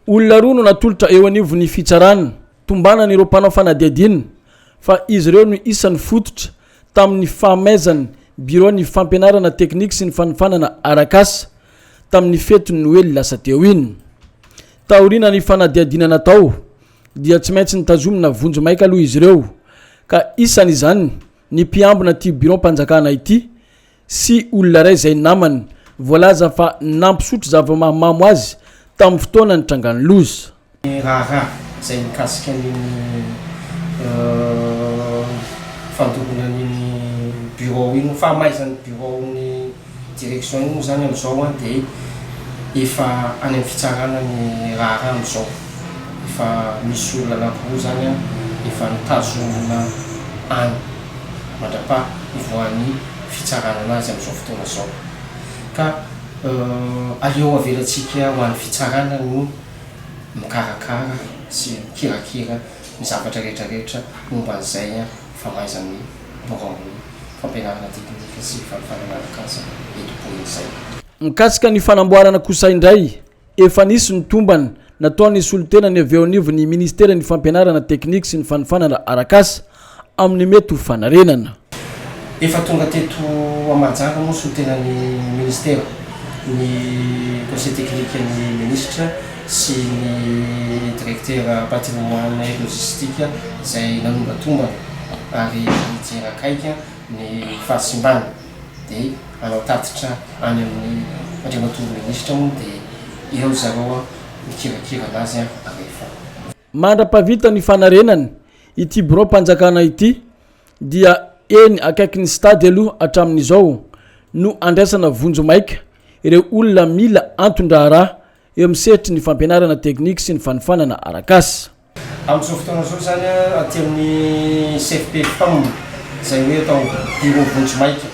Olona roa no natolotra eo anivon'ny fitsarana tombanana ireo mpanao fanadihadiana fa izy ireo no isan'ny fototra tamin'ny fahamezan'ny biraon'ny fampianarana teknika sy ny fanofanana arak'asa tamin'ny fetin'ny noely lasa teo iny. Taoriana ny fanadihadiana natao dia tsy maintsy nitazomina vonjimaika aloha izy ireo ka isan'izany ny mpiambina ity biraom-panjakana ity sy olona iray izay namany voalaza fa nampisotro zava-mahamamo azy tamin'ny fotoana nitrangan'ny loza. Ny raharaha izay mikasika an'iny fandoroana an'iny bureau iny, ny fahamaizan'ny bureau ny direction iny moa izany amin'izao dia efa any amin'ny fitsarana ny raharaha amin'izao. Efa misy olona anankiroa izany efa notazomina any. mandrapaha hivoahan'ny fitsarana anazy amin'izao fotoana izao. Ka aleo avelantsika ho an'ny fitsarana no mikarakara sy mikirakira ny zavatra rehetra rehetra momba an'izay famaizan'ny biraon'ny fampianarana teknika sy fahefana miarak'asa eto Boeny izay. Mikasika ny fanamboarana kosa indray Efa nisy ny tombana nataon'ny solontenany avy eo anivon'ny Ministeran'ny Fampianarana teknika sy ny fanofanana arak'asa amin'ny mety ho fanarenana. Efa tonga teto Mahajanga moa ny solontenan'ny Ministera, ny Conseil teknikan'ny Minisitra sy ny Direktera Patrimoine et Logistique izay nanonga tombana ary nijery akaiky ny fahasimbana. dia hanao tatitra any amin'ny Andriamatoa Minisitra moa dia eo ry zareo an, mikirakira an'azy an, rehefa. Mandra-pahavita ny fanarenana ity biraom-panjakana ity dia eny akaikin'ny Stade aloha hatramin'izao no andraisana vonjy maika ireo olona mila anton-draharaha eo amin'ny sehatry ny fampianarana teknika sy ny fanofanana arak'asa. Amin'izao fotoana izao izany aty amin'ny CFPPAM izay hoe atao Bureau vonjimaika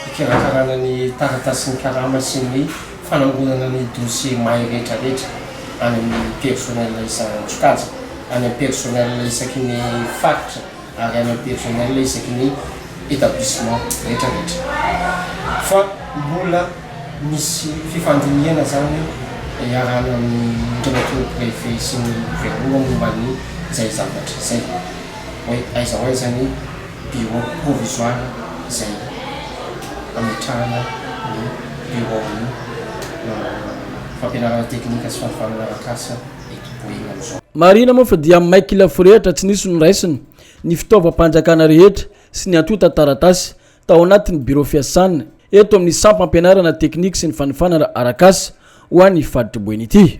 hikarakarana ny taratasin'ny karama sy ny fanangonana ny dossier may rehetra rehetra any amin'ny personnel isan'antsokajy, any amin'ny personnel isaky ny faritra. Arena personnel isaky ny établissement rehetra rehetra fa mbola misy fifandinihana zany iarahana amin'ireo préfet sy ny gouverneur momba ny izay zavatra izay hoe aiza ho aiza ny bureau provisoire izay ametrahana ny bureau ny fampianarana teknika sy fampifanana arak'asa Marihina moa fa dia may kila forehitra tsy nisy noraisina ny fitaovam-panjakana rehetra sy ny antontan-taratasy tao anatin'ny birao fiasana eto amin'ny sampam-pianarana teknika sy ny fanofanana arak'asa ho an'ny faritry Boeny ity.